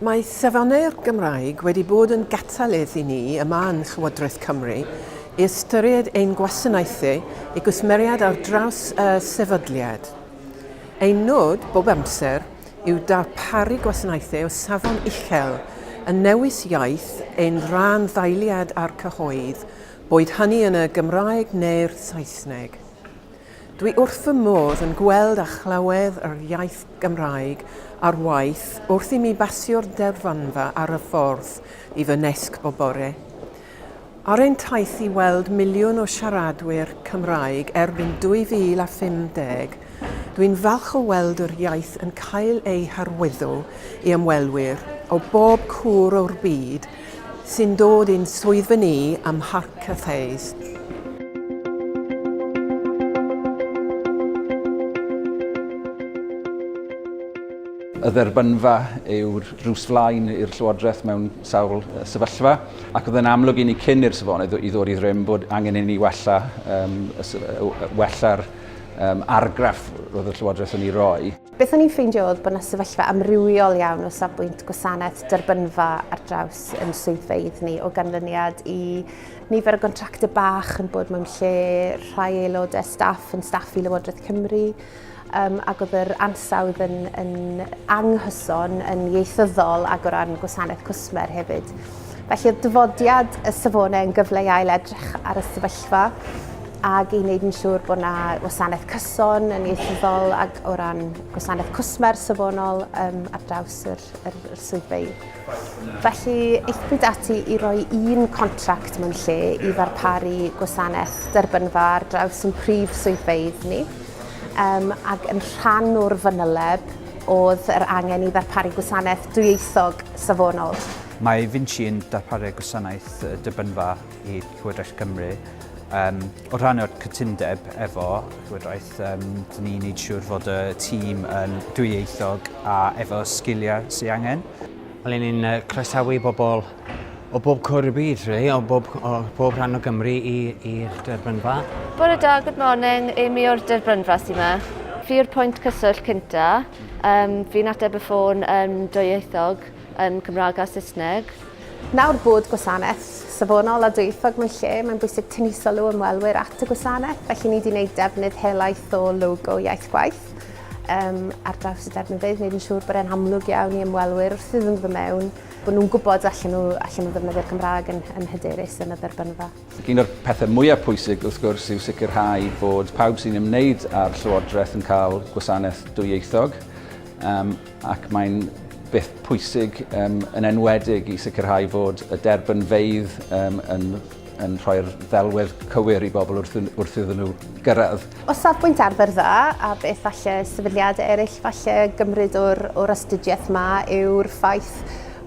Mae Safonau'r Gymraeg wedi bod yn gatalydd i ni yma yn Llywodraeth Cymru i ystyried ein gwasanaethau i gwsmeriaid ar draws y sefydliad. Ein nod, bob amser, yw darparu gwasanaethau o safon uchel yn newis iaith ein rhan-ddeiliaid a'r cyhoedd, boed hynny yn y Gymraeg neu'r Saesneg. Dwi wrth fy modd yn gweld a chlywed yr iaith Gymraeg ar waith wrth i mi basio'r deddfwynfa ar y ffordd i fy nesg bob bore. Ar ein taith i weld miliwn o siaradwyr Cymraeg erbyn 2050, dwi'n falch o weld yr iaith yn cael ei harwyddo i ymwelwyr o bob cwr o'r byd sy'n dod i'n swyddfa ni ym Mharc Cathays. Y dderbynfa yw'r drws flaen i'r Llywodraeth mewn sawl sefyllfa, ac oedd yn amlwg i ni cyn i'r safonau i ddod i ddrym bod angen i ni wella, um, wella'r um, argraff roedd y Llywodraeth yn ei roi. Beth o'n i'n ffeindio oedd bod yna sefyllfa amrywiol iawn o safbwynt gwasanaeth derbynfa ar draws yn swyddfeydd ni o ganlyniad i nifer o gontractau bach yn bod mewn lle rhai aelodau staff yn staff i Lywodraeth Cymru um, ac oedd yr ansawdd yn, yn anghyson, yn ieithyddol ac o ran gwasanaeth cwsmer hefyd. Felly oedd dyfodiad y safonau yn gyfle i ail edrych ar y sefyllfa ac i wneud yn siŵr bod yna wasanaeth cyson yn ieithyddol ac o ran gwasanaeth cwsmer safonol um, ar draws yr, yr, yr swyddfeydd. Felly, eithbwyd ati i roi un contract mewn lle i ddarparu gwasanaeth derbynfa ar draws yn prif swyddfeydd ni um, ac yn rhan o'r fanyleb oedd yr angen i ddarparu gwasanaeth dwyieithog safonol. Mae Vinci yn darparu gwasanaeth dibynfa i Llywodraeth Cymru. Um, o rhan o'r cytundeb efo Llywodraeth, um, dyn ni'n neud siŵr fod y tîm yn dwyieithog a efo sgiliau sy'n angen. Allen ni'n uh, croesawu bobl o bob cwr y byd, really, o bob, o bob rhan o Gymru i'r derbynfa. Bore da, good morning. Amy o'r derbynfa sy'n yma. Fi yw'r pwynt cyswllt cynta. Um, fi'n ateb y ffôn yn um, dwyieithog. yn Cymraeg a Saesneg. Nawr bod gwasanaeth safonol a dwyieithog mewn lle, mae'n bwysig tynnu sylw ymwelwyr at y gwasanaeth, felly ni wedi gwneud defnydd helaeth o logo Iaith Gwaith um, ar draws y defnyddwydd, wneud yn siŵr bod e'n amlwg iawn i ymwelwyr wrth iddyn nhw mewn, bod nhw'n gwybod allan nhw, allan nhw ddefnyddio'r Gymraeg yn, yn hyderus yn y dderbynfa. Un o'r pethau mwyaf pwysig wrth gwrs yw sicrhau bod pawb sy'n ymwneud â'r Llywodraeth yn cael gwasanaeth dwyieithog. Um, ac mae'n beth pwysig um, yn enwedig i sicrhau bod y derbynfeydd um, yn, yn rhoi'r ddelwedd cywir i bobl wrth, wrth iddyn nhw gyrraedd. O safbwynt arfer dda, a beth falle sefydliad eraill falle gymryd o'r, o'r astudiaeth yma yw'r ffaith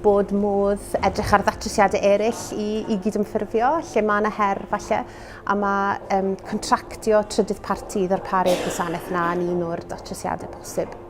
bod modd edrych ar ddatrysiadau eraill i, i gydymffurfio, lle mae yna her falle, a mae um, contractio trydydd parti i ddarparu'r gwasanaeth yna yn un o'r datrysiadau posib.